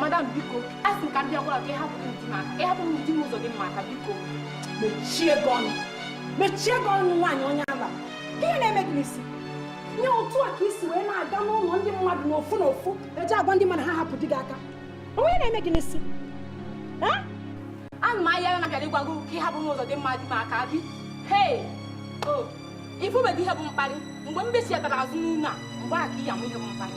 madam biko a sị m ka m bịa gwa gị ka ịhapụ m di m aka ịhapụ m di m ụzọdịmma aka biko mechie gị ọnụ mechie gị ọnụ nwaanyị onye ala ka ihe na-eme gị n'isi nye otu a ka isi wee na-aga n'ụlọ ndị mmadụ n'ofu n'ofu eji agwa ndị mmadụ ha hapụ di gị aka o nwe ihe na-eme gị n'isi ana m ahịa ya na-abịara ịgwa gị ka ịhapụ m ụzọdịmma di m aka bi hei o ifubedị ihe bụ mkparị mgbe m besiatara azụ n'ụlọ a mgbe a ka ị ya mụ ihe bụ mkparị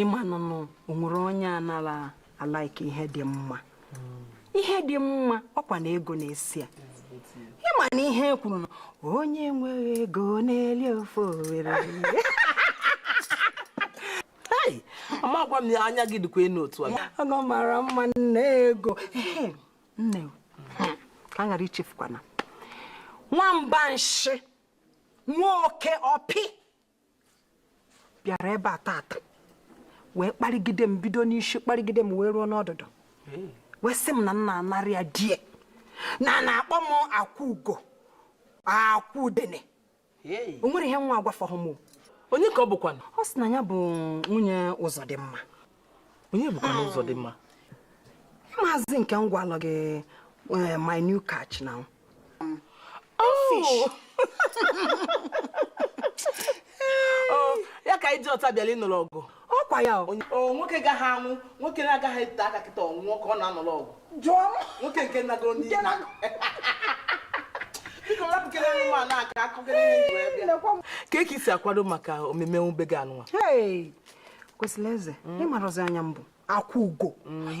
ịma nụnụ onwere onye anara a-like ihe dị mma ihe dị mma ọkwa na ego na-esi ya ịma na ihe e kwuru na onye nwere ego na-eli ofe owere ama agwa m anya gị dịkwa enu otu a ọ mara mma nne ego nne ka m ghara ichefukwa na nwamba nshị nwa oke ọpị bịara ebe a tata wee kparịgide m bido n'isi kparịgide m wee ruo n'ọdụdụ wee sị m na m na-anara ya di e na na-akpọ m akwa ugo akwa udene o nwere ihe nwa agwafọghị m onye ka ọ bụkwanụ ọ sị na ya bụ nwunye ụzọdịmma onye bụkwanụ ụzọdịmma maazị nke m gwalụ gị eh, my new catch now oh. oh, ya ka iji ọta bịala ịnụrụ ọgụ ọkwa ya o nwoke gaghị anwụ nwoke na-agaghị ete aka kịta ọnwụọ ka ọ na-anụrụ ọgụ jụọ m nwoke nke nago n'ihe ka eke isi akwado maka omume nwube gị anụnwa kwesịrị eze ịmarọzi onye m bụ akwa ugo mm.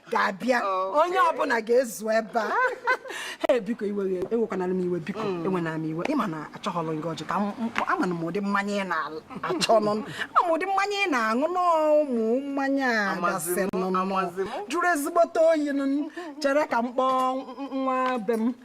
ga-abịa onye ọbụla ga-ezu ebe a ee biko iwe ewekwanara m iwe biko mm. ewena m iwe ịma na achọghọlụ gị ọjị ka ama na m ụdị mmanya ị na-achọ nụ ama m ụdị mmanya ị na-aṅụ n'ụmụ mmanya a gasị nụ jụrụ ezigbote oyi nụ chere ka m kpọọ nwa be m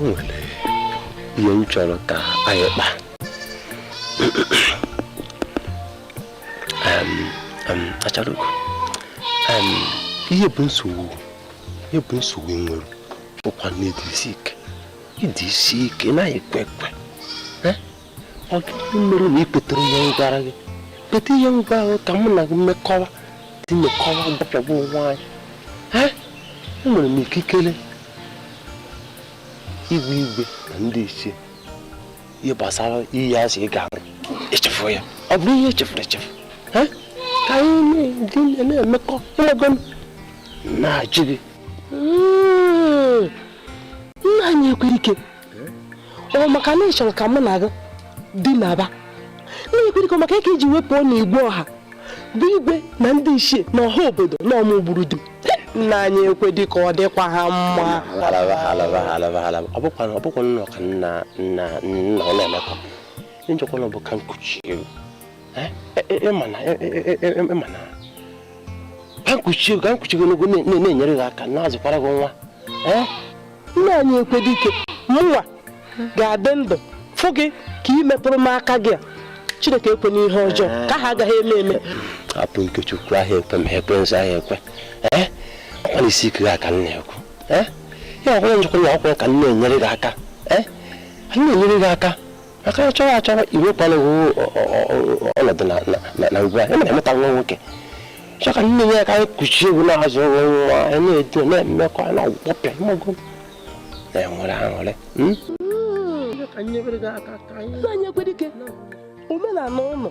nwere ihe m chọrọ ka anyị kpaa achalugo ihe bụ nsogbu ihe bụ nsogbu nwere ụkwa na-edisi ike ị dị isi ike na ekwe ekwe ọ gịnị mere na ikwetere ihe m gwara gị kweta ihe m gwara ka mụ na gị mekọwa dị mekọwa gbapịagbu onwe anyị enwere m ikikere igwe igwe na ndị ichie ihe gbasara iyi a sị ị ga-aṅụ echefu ya ọ bụrụ ihe echefuru echefu ka anyị na-emekọ ịmago na-ajụ gị nna anyị ekwedike ọ maka na ị chọrọ ka mụ na gị dinaba nna anyị ekwedike maka ya ka i ji wee pụọ na igwe ọha gwa igwe na ndị ichie na ọha obodo na ọ mụ gburu di m nna anyị ekwedike ọ dịkwa ha mma ọ bụkwa nnọọ ka nna nna nna ọ na-emekọ njọkwa na ọ bụ ka m kuchie gị ịma na ka m kuchie ka m kuchie gị na-enyere gị aka na-azụkwara gị nwa nna anyị ekwedike mụnwa ga-adị ndụ fụ gị ka ị metụrụ m aka gị a chineke ekwena ihe ọjọọ nke ahụ agaghị eme eme hapụ ikechukwu ahịa ekwe ma ekwe nso ahịa ekwe ọkwa na isi ike gị a ka m na-ekwu ya ọkwụrụ njikwa na ọkwụrụ ka m na-enyere gị aka na-enyere gị aka maka ya chọrọ achọrọ iwekwala onwe ọnọdụ na ugbu a emere emeta nwa nwoke chọ ka nne ya ka anyị kuchie gị na-azụ nwa nwa anyị na-edo na-emekọ na ọgwụkwọpịa ịmago na-enwere aṅụrị nna anyị ekwedike omenala ụlọ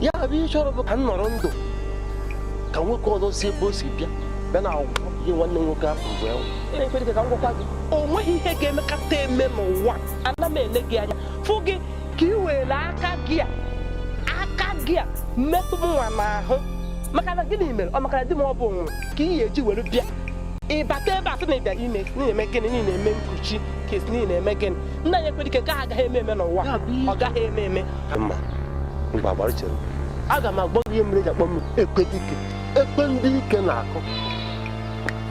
ya bụ ihe ị chọrọ bụ ka m nọrọ ndụ ka nwoke ọzọ si ebe o si bịa bịa na agwụgwọ ihe nwanne nwoke ahụ bụ ya ekwedike ka m gwakwa gị o nweghị ihe ga-emekata eme n'ụwa ana m ele gị anya fụ gị ka ị were aka gị a aka gị a metụ mụnwa n'ahụ maka na gịnị mere ọ maka na di m ọ bụ nwụrụ ka ị ga-eji were bịa bata ebe a sị na ịbịara ime ị na-eme gịnị ị na-eme nkuchi ka ị sị na ị na-eme gịnị nna anyị ekwedike nke ahụ agaghị eme eme n'ụwa ọ gaghị eme eme aga m agwa gị ihe mere e ji akpọ m ekwedike ekwe ndị ike na-akụ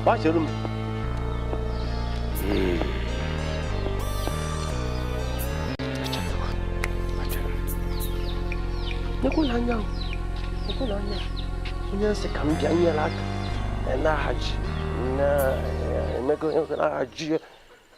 gbachere m nekwula anya nekwula anya onye m sị ka m bịa nyere aka na-ahaji na-emego na-ahaji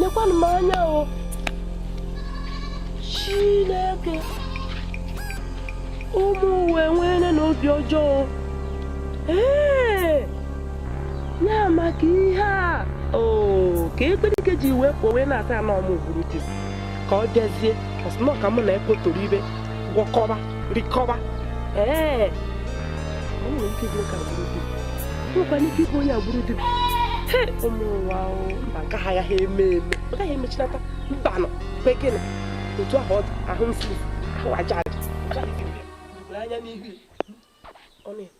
nekwanụ m anya o Chineke ụmụ ụwa nwere na obi ọjọọ ee ya maka ihe a oo ka ekwedike ji wee pụọ wee na-ata na ọ mụ gburu di m ka ọ bịazie ọ sị nnọọ ka mụ na ekpotoro ibe gwọkọba rikọba ee o nwere ike ịbụ ka e gburu di m nwekwa ike ịbụ onye gburu di mụwa mba nke a agaghị eme eme ọ gaghị emechinata mbanụ kwa gịnị otu ahụ ahụ mfuru ahụ aja aja anya n'ihu ọ na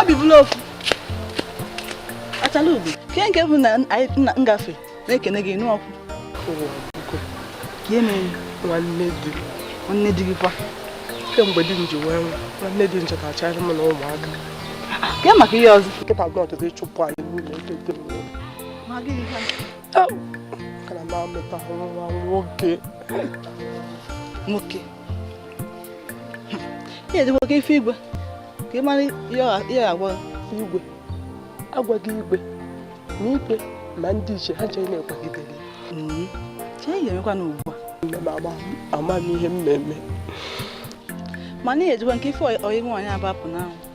obi bụla ofu achalaugo kee nke bụ na nna ngafe na-ekene gị nụ ọkụ nwanne di nwanne di gị kwa kemgbe di m ji wee nwụọ nwanne di m chọtachara m na ụmụaka kee maka ihe ọzọ nkịta gị ọtụtụ ịchụpụ anyị n'ụlọ be di m ka na m amụta nwa nwoke nwoke i jezigo ka ị fụ igwe ka ị mara ihe agwa igwe agwago m igwe ma igwe na ndị ichie ha ncha na-akwagide ya mm-hmm. chei ihe emekwa na ugbu a amaghị m ihe m na-eme mana i jezikwa nke ịfụ ọyị nwaanyị abapụ n'ahụ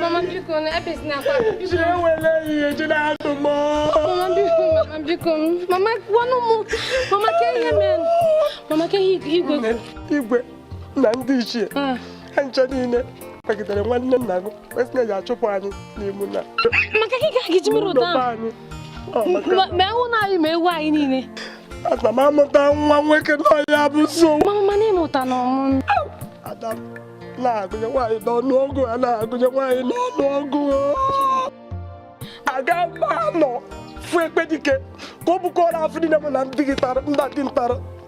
Mama biko ebezina akwa. Jee welụ ihe je na ato mo. Mama biko, mama biko. Mama gwanụ mụ. Mama kee ihe menụ. Mama kee igwe. Igwe na ndị ichie. Ah. ha ncha niile kwagidere nwanne nna gị kwe sị na ya chụpụ anyị n'ime ụnọ maka gị ka gị ji mere ụdọ ahụ ma ewu na anyị ma ewu anyị niile ana m amụta nwa nwoke na ya bụ so mama mana ị mụtanụ mụ ada na-agụnye nwaanyị n'ọnụ ọgụ a na-agụnye nwaanyị n'ọnụ ọgụ aga m anọ fụ ekpedike ka ọ bukọrọ afụfụ niile mụ na nna gị tara ndị dị ntara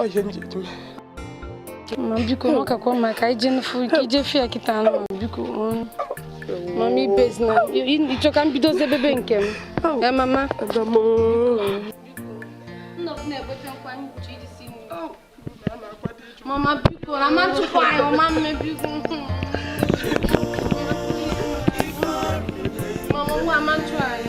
ọ ihe m ji eji mee ma biko ọ kakwa mma ka ije nfu ike i jee fụ ya kịta anụ ma biko mama ebezina ị chọ ka m bidozie bebe nke m e mama mama biko na ọ ma chụpụ anyị ọ ma eme biko mama nwa ama ntụ anyị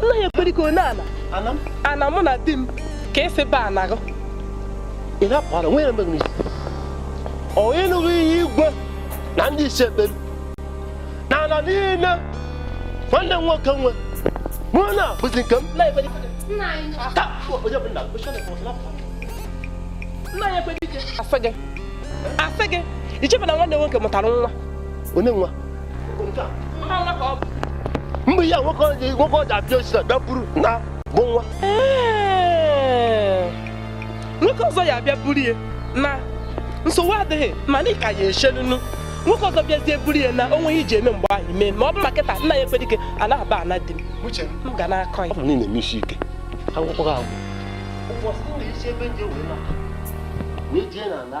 nna anyị ekpedike ọ n'ana ana mụ na di m ka i si ba n'agụ ị na-apụ ara ị nụghị ihe igwe na ndị ichie kpere na ala niile nwanne m nwoke nwe na ọ bụzi nke m nna anyị ekpedike asị gị ichebe na nwanne nwoke mụtara nwa onye nwa mgbe ihe nwoke ọjị nwoke ọjị abịa osisi abịa buru na bụ nwa nwoke ọzọ ya abịa buru ya na nsogbu adịghị mana ị ka ya echelunu nwoke ọzọ bịazie buru ya na o nweghị iji eme mgbe ahụ mee ma ọ bụ ma kịta nna ya ekwe dike anaghị aba ana di m m ga na-akọ ya ọ bụ niile eme isi ike akwụkwọ gị agwụ ụbọchị m na-esi ebe ndị wee na wee jee na ala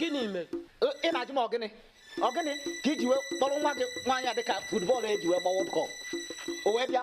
gịnị mere ị na-ajụ m ọ gịnị ọ gịnị ka i ji wee kpọrọ nwa gị nwaanyị a dịka football e ji wee gbawa ball o wee bịa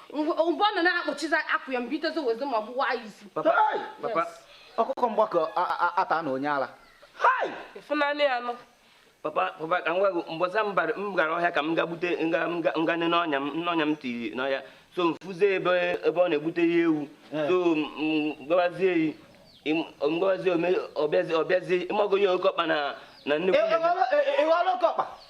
mgbe ọ nọ na-akpuchizi akwụ ya mgbe itezi wezi ma gbuwa ya isi papa ọkụkọ mgbakọ ata na onye ala ịfụnanị ya nọ papa papa ka m gwa gị mbọsị m gara ọhịa ka m ga gbute ngane n'ọnya m n'ọnya m tiri n'ọhịa so m fụzie ebe ebe ọ na-egbute ya ewu eh. so m gawazie yi mgbazi ọ bịazi ịmago onye oke ọkpa na na nnukwu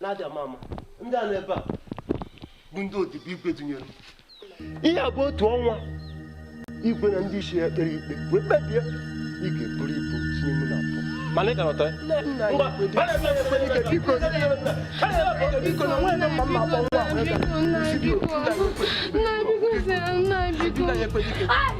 na-abịa mama ndị a nọ ebe a bụ ndị odibo igwe dunyere ihe a bụ otu ọnwa igwe na ndị isi ya kpere ikpe wee kpebie ị ga-eburu ibu tinye mụ na abụọ mana ị ka nọta Nna biko, nna biko, nna biko.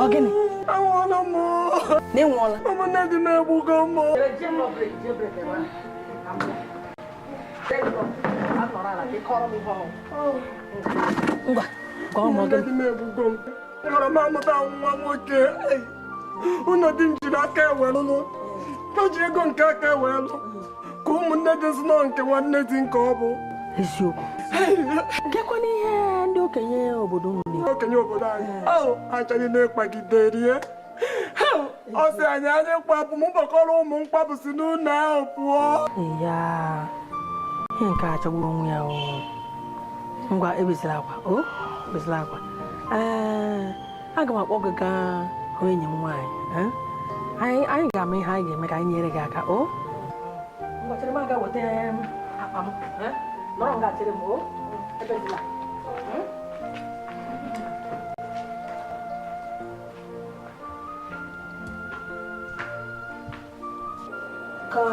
Ọ gịnị? Anwụọla m. Na ị nwụọla? Ụmụnne di m egbugo m. Ngwa, gwa ụmụ gị. nwere m amụta nwa nwoke ụlọ di m jiri aka ya welụ lụ ka ji ego nke aka ya wee lụ ka ụmụnne di m zinọ nke nwanne di nke ọ bụ eziokwu gekwanụ ihe ndị okenye obodo okenye obodo anyị achọghị na-ekpagide rie ọ sị anyị anyị m kpapụ m kpọkọrọ ụmụ m kpapụ si n'ụlọ ahụ pụọ ya ihe nke a jọgburu onwe ya ngwa ebezila akwa o ebezila akwa ee aga m akpọ gị gaa hụ enyi m nwaanyị anyị ga-ama ihe anyị ga-eme ka anyị nyere gị aka o ngwa chere m gaa weta akpa m nọrọ nga a chere m o ebezila ka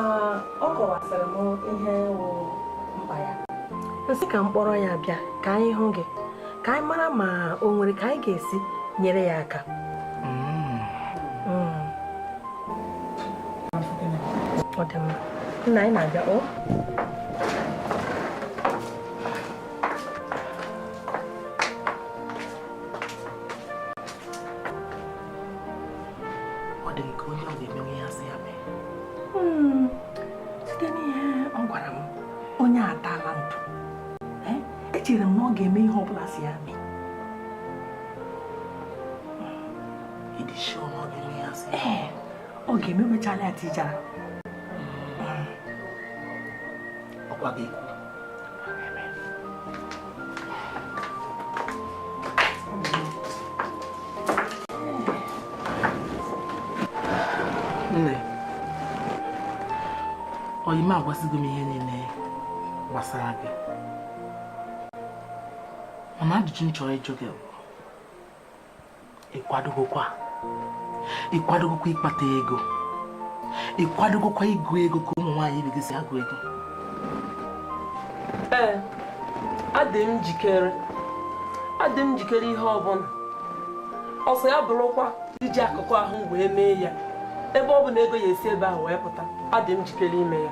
ọ kọwasịrị m ihe wụ mkpa ya m sị ka m kpọrọ ya bịa ka anyị hụ gị ka anyị mara ma o nwere ka anyị ga-esi nyere ya aka mm. Mm. ọ dị mma nna anyị na-abịa o ọ dị nke onye ọ ga-emenwu ihe a sị ya mee hmm, site n'ihe ọ gwara m onye atala ntụ eh, echere m na ọ ga-eme ihe ọ bụla a sị ya mee ee ọ ga-ememechala ya tii jara ọkwa gị nne ọyị m agwasịgo m ihe niile gbasara gị mana ajụjụ m chọrọ ịjụ gị bụ ị kwadogokwa ị kwadogokwa ịkpata ego ị kwadogokwa ịgụ ego ka ụmụ nwaanyị ibe gị si agụ ego ee adị m njikere adị m njikere ihe ọbụla ọ sọ ya bụrụkwa iji akụkụ ahụ wee mee ya ebe ọ bụ na ego ya-esi ebe ahụ wee pụta adị m njikere ime ya